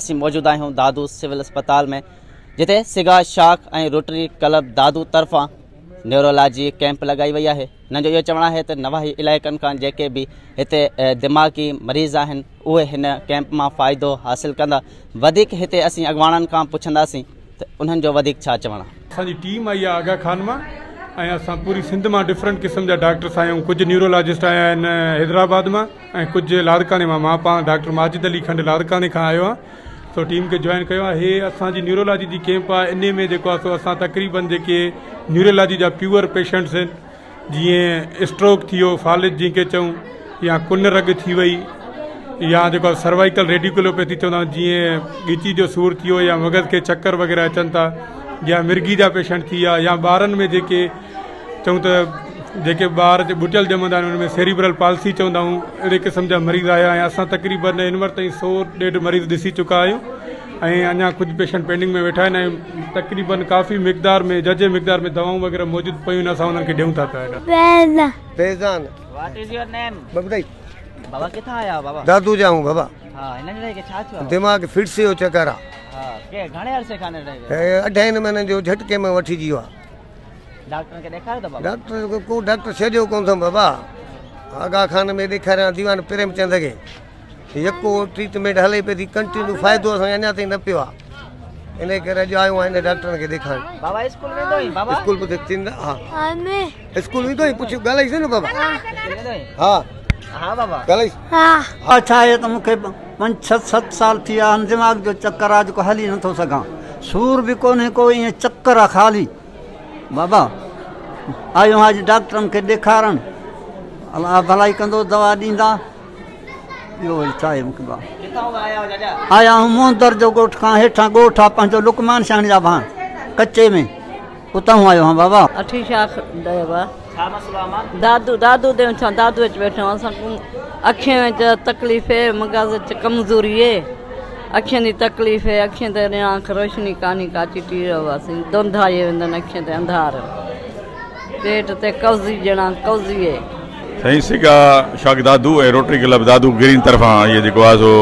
اسين موجود آهيون دادو سول اسپتال ۾ جتي سگا شاخ ۽ روٽري ڪلب دادو طرفان نيورولاجي ڪيمپ لڳائي وئي آهي هنن جو اهو چوڻ آهي ته نواحي علائقن کان جيڪي به هتي دماغي مريض آهن اهي هن ڪيمپ مان فائدو حاصل ڪندا وڌيڪ هتي اسين اڳواڻن کان پڇنداسين ته انهن جو وڌيڪ ڇا چوڻ. اسان جي ٽيم آئي آهي آغا خان مان ۽ اسان پوري سنڌ مان ڊفرنٽ قسم جا ڊاڪٽرس آيا آهيون ڪجهه نيورولاجسٽ آيا آهن حيدرآباد مان ۽ ڪجهه لاڙڪاڻي مان مان پاڻ ڊاڪٽر ماجد علي کنڊ لاڙڪاڻي کان آيو آهيان سو ٽيم کي جوائن ڪيو آهي هي اسان جي نيورولاجي جي ڪيمپ آهي انهي ۾ جيڪو آهي سو اسان تقريبن جيڪي نيورولاجي جا پيور پيشنٽس آهن جيئن اسٽروڪ ٿي ويو فالج جنهن کي چئون يا ڪن رڳ ٿي وئي يا جيڪو آهي سروائيڪل ريڊيوڪلوپيٿي چوندا آهن جيئن ڳچي جو سور ٿي ويو يا مغز کي چڪر وغيره اچن ٿا يا مرگي جا پيشنٽ ٿي ويا يا ٻارن ۾ جيڪي چون ته جيڪي ٻار جي ٻٽيل ڄمندا آهن ان ۾ سيريبرل پالسي چوندا آهيون اهڙي قسم جا مريض آيا آهن اسان تقريبن هن وقت تائين سو ڏيڍ مريض ڏسي چڪا آهيون ۽ اڃا ڪجهه پيشنٽ پينڊنگ ۾ ويٺا آهن ۽ تقريبن ڪافي مقدار ۾ ججهي مقدار ۾ دوائون وغيره موجود پيون آهن اسان انهن کي ڏيون ٿا پيا هيڏانهن. فيضان واٽ از يور نيم ببدائي بابا ڪٿان آيا آهو بابا دادو جا هون بابا ها هن ننڍڙي کي ڇا ٿيو آهي دماغ فٽس جو چڪر آ ها ڪي گهڻي عرصي کان ننڍڙي کي هي اڍائين مهينن جو جهٽڪي ۾ وٺي جيو آ ڊاڪٽرن کي ڏيکاريو ته بابا ڊاڪٽر ڪو ڊاڪٽر ڇڏيو ڪون ٿم بابا آغا خان ۾ ڏيکاريان ديوان پريم چند کي يڪو ٽريٽمينٽ هلي پئي ٿي ڪنٽينيو فائدو اسان کي اڃا تائين نه پيو آ انهي ڪري اڄ آيو آهيان ڊاڪٽرن کي ڏيکارڻ بابا اسڪول ويندو آهين بابا اسڪول به ٿيندا ها اسڪول ويندو آهين پڇ ڳالهائيس نه بابا ها ها بابا ڳالهائيس ها ها ڇا آهي ته مون کي پنج ڇهه ست سال ٿي ويا آهن دماغ جو چڪر آ جيڪو هلي نٿو سگهان سور به ڪونهي ڪو ائين چڪر آ خالي بابا آيو آهيان اڄ ڊاڪٽرن کي ڏيکارڻ الله ڀلائي ڪندو دوا ڏيندا آيا هون موهندر جو ڳوٺ کان هيٺان ڳوٺ آ پنهنجو لقمان شاهڻي جا ڀاڻ ڪچي ۾ اتان هون آيو هان بابا. اٺي شاخ ديوا دادو دادو ديون ڇان دادو اچ ويٺو اسان ڪون اکين وچ تڪليف هي مغز اچ ڪمزوري هي اکين دي تڪليف هي اکين تي ريان اک روشني ڪاني ڪاچي ٽيڙو واسين دونڌايي وندن اکين تي انڌار. پيٽ تي قوضي ڄڻا قوضيء. سائين سگا شاخ Dadu ۽ Rotary Club Dadu Green طرفان اهي جيڪو آهي سو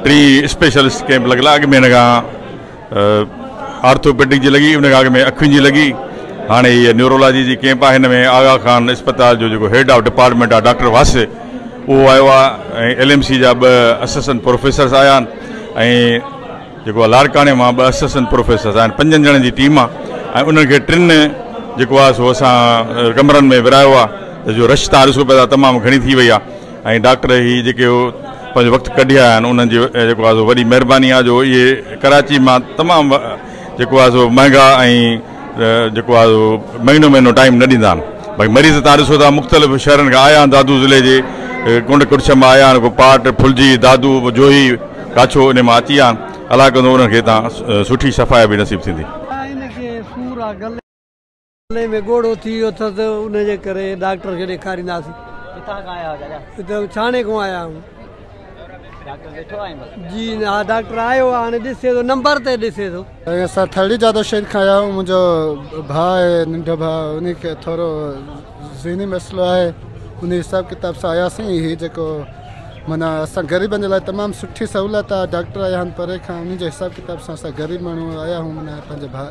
ٽي اسپيشلسٽ ڪيمپ لڳل آهي اڳ ۾ هن کان آرٿوپيڊڪ جي لڳي ان کان اڳ ۾ اکين جي لڳي هاڻي هي نيورولاجي جي ڪيمپ آهي هن ۾ آغا خان اسپتال جو جيڪو هيڊ آف ڊپارٽمينٽ آهي ڊاڪٽر واسع اهو آيو آهي ۽ ايل ايم سي جا ٻه اسسٽنٽ پروفيسرس آيا آهن ۽ جيڪو آ لاڙڪاڻي مان ٻه اسسٽنٽ پروفيسرز آهن پنجن ڄڻن جي ٽيم آ ۽ انهن کي ٽن جيڪو آ سو اسان ڪمرن ۾ ورايو آ ته جو رش تان ڏسو پيا ٿا تمام گهڻي ٿي وئي آ ۽ ڊاڪٽر هي جيڪي پنهنجو وقت ڪڍي آيا آهن انهن جي جيڪو آ سو وڏي مهرباني آ جو اهي ڪراچي مان تمام جيڪو آ سو مهنگا ۽ جيڪو آهي اهو مهينو مهينو ٽائيم نه ڏيندا آهن باقي مريض تان ڏسو ٿا مختلف شهرن کان آيا آهن دادو ضلعي جي ڪنڊ ڪڙڇ مان آيا آهن ڪو پاٽ ڦلجي دادو جوهي ڪاڇو ان مان اچي آهن الاء ڪندو انهن کي تان سٺي شفايا به نصيب ٿيندي. ان کي سور آ گلي ۾ ڳوڙهو ٿي ويو اٿس ان جي ڪري ڊاڪٽر کي ڏيکارينداسين. ڪٿان کان آيا آهيو دادا؟ ڇاڻي کان آيا آهيون. جي نا ڊاڪٽر آيو آ هاڻي ڏسي ٿو نمبر تي ڏسي ٿو. سائين اسان ٿرڙي جادو شير کان آيا آهيون منهنجو ڀاء آهي ننڍو ڀاء انهي کي ٿورو ذهني مسئلو آهي انهي حساب ڪتاب سان آياسين هي جيڪو معنيٰ اسان غريبن جي لاء تمام سٺي سهولت آهي ڊاڪٽر آيا آهن پري کان انهي جي حساب ڪتاب سان اسان غريب ماڻهو آيا آهيون معنيٰ پنهنجي ڀاء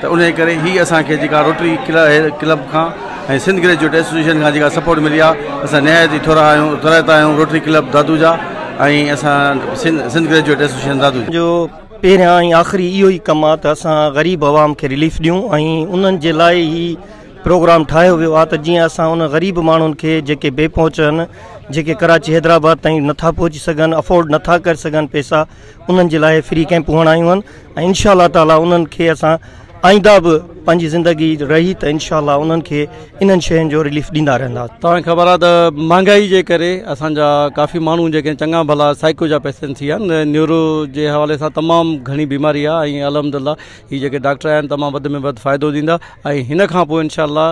ته انهيء ڪري هي اسان کي جيڪا روٽري ڪلب کان ۽ سنڌ گريجوئيٽ ايسوسيئيشن کان جيڪا سپورٽ ملي آهي، اسان نهايت ئي ٿورا آهيون، ترهت آهيون روٽري ڪلب دادو جا ۽ اسان سنڌ گريجوئيٽ ايسوسيئيشن دادو جا. جو پهريان ۽ آخري اهو ئي ڪم آهي ته اسان غريب عوام کي رليف ڏيون ۽ انهن جي لاء هي پروگرام ٺاهيو ويو آهي ته جيئن اسان انهن غريب ماڻهن کي جيڪي بي پهچ آهن، جيڪي ڪراچي حيدرآباد تائين نٿا پهچي سگهن، افورڊ نٿا ڪري سگهن پئسا، انهن جي لاء فري ڪيمپ هئڻ آيون آهن ۽ انشاء الله تعالي انهن کي اسان آئنده به پنهنجي زندگي رهي ته انشاء الله انهن کي انهن شين جو رليف ڏيندا رهندا توهان کي خبر آهي ته مهانگائي جي ڪري اسان جا ڪافي ماڻهو جيڪي چڱا ڀلا سائيڪو جا پيشنٽ ٿي ويا آهن نيورو جي حوالي سان تمام گهڻي بيماري آهي ۽ الحمد لله هي جيڪي ڊاڪٽر آهن تمام وڌ ۾ وڌ فائدو ڏيندا ۽ هن کان پوء انشاء الله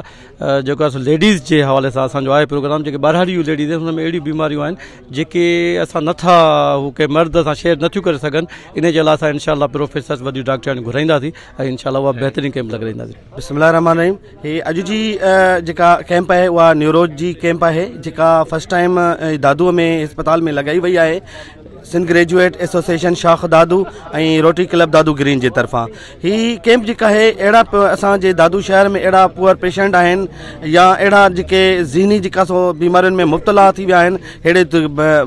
جيڪو اسان ليڊيز جي حوالي سان اسان جو آهي پروگرام جيڪي ٻاراڙيون ليڊيز آهن هن ۾ اهڙيون بيماريون آهن جيڪي اسان نه ٿا هو ڪنهن مرد سان شيئر نه ٿيون ڪري سگهن ان جي لاء اسان انشاء الله پروفيسرز وڏيون ڊاڪٽرياڻيون گهرائينداسين ۽ انشاء الله اها بهترين ڪيمپ لڳرائينداسين بسم الله الرحمن الرحيم هي اڄ جي جيڪا ڪيمپ آهي اها نيوروز جي ڪيمپ آهي جيڪا فرسٽ ٽائيم دادو ۾ اسپتال ۾ لڳائي وئي آهي سنڌ گريجويٽ ايسوسيشن شاخ Dadu ۽ Rotary Club Dadu Green جي طرفان هي ڪيمپ جيڪا آهي اهڙا اسان جي دادو شهر ۾ اهڙا پوئر پيشنٽ آهن يا اهڙا جيڪي ذهني جيڪا سو بيمارين ۾ مبتلا ٿي ويا آهن اهڙي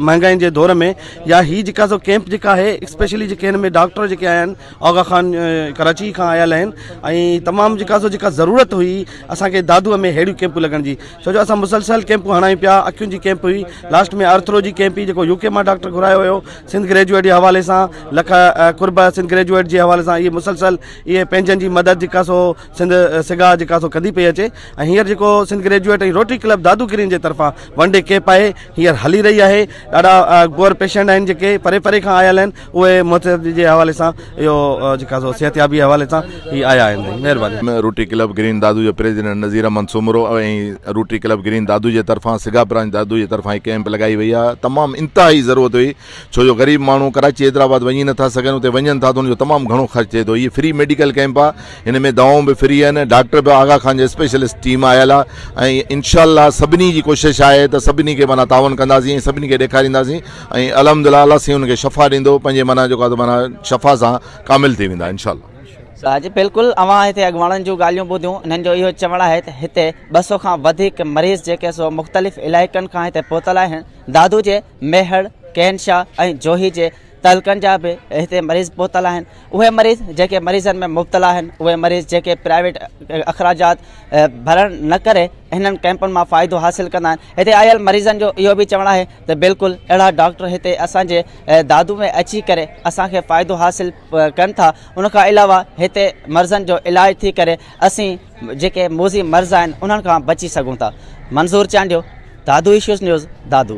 مهانگائين جي دور ۾ يا هي جيڪا سو ڪيمپ جيڪا آهي اسپيشلي جيڪي هن ۾ ڊاڪٽر جيڪي آهن آغا خان ڪراچي کان آيل آهن ۽ تمام جيڪا سو جيڪا ضرورت هئي اسانکي دادو ۾ ههڙيون ڪيمپون لڳڻ جي سو جو اسان مسلسل ڪيمپون هڻايون پيا اکين جي ڪيمپ هئي لاسٽ ۾ آرٿرو جي ڪيمپ جيڪو يو ڪي مان ڊاڪٽر گهرايو هيو سنڌ گريجوئيٽ جي حوالي سان لک قرب سنڌ گريجوئيٽ جي حوالي سان اهي مسلسل اهي پنهنجن جي مدد جيڪا سو سنڌ سگا جيڪا سو ڪندي پئي اچي ۽ هينئر جيڪو Sindh graduate ۽ Rotary Club Dadu Green جي طرفان ون ڊي ڪيپ آهي هينئر هلي رهي آهي ڏاڍا گور پيشنٽ آهن جيڪي پري پري کان آيل آهن اهي متحد جي حوالي سان اهو جيڪا سو صحتيابي حوالي سان هي آيا آهن مهرباني. روٽري ڪلب گرين دادو جي president Nazir Ahmed Soomro ۽ Rotary Club Green Dadu جي طرفان سگا برانچ دادو جي طرفان هي ڪيمپ لڳائي وئي آهي تمام انتهائي ضرورت هئي ڇو جو غريب ماڻهو ڪراچي حيدرآباد وڃي نٿا سگهن اتي وڃن ٿا ته ان جو تمام گهڻو خرچ ٿئي ٿو هي فري ميڊيڪل ڪيمپ آهي هن ۾ دوائون به فري آهن ڊاڪٽر به آغا خان جي اسپيشلسٽ ٽيم آيل آهي ۽ انشاء الله سڀني جي ڪوشش آهي ته سڀني کي معنيٰ تعاون ڪنداسين ۽ سڀني کي ڏيکارينداسين ۽ الحمدلله الله سين ان کي شفا ڏيندو پنهنجي معنيٰ جيڪو آهي معنيٰ شفا سان ڪامل ٿي ويندا انشاء الله. صاحب جي بلڪل اوهان هتي اڳواڻن جون ڳالهيون ٻڌيون انهن جو اهو چوڻ آهي ته هتي ٻه سؤ کان وڌيڪ مريض جيڪي سو مختلف علائقن کان هتي پهتل آهن دادو جي ميهڙ ڪين شاهه ۽ جوهي جي تعلقن جا به هتي مريض پهتل آهن اهي مريض جيڪي مريضن ۾ مبتلا آهن اهي مريض جيڪي پرائيويٽ اخراجات ڀرڻ نه ڪري هنن ڪئمپن مان فائدو حاصل ڪندا آهن هتي آيل مريضن جو اهو به چوڻ آهي ته بلڪل اهڙا ڊاڪٽر هتي اسان جي دادو ۾ اچي ڪري اسان کي فائدو حاصل ڪن ٿا ان کان علاوه هتي مرضن جو علاج ٿي ڪري اسين جيڪي موزي مرض آهن انهن کان بچي سگهون ٿا منظور چانڊيو دادو ايشوز نيوز دادو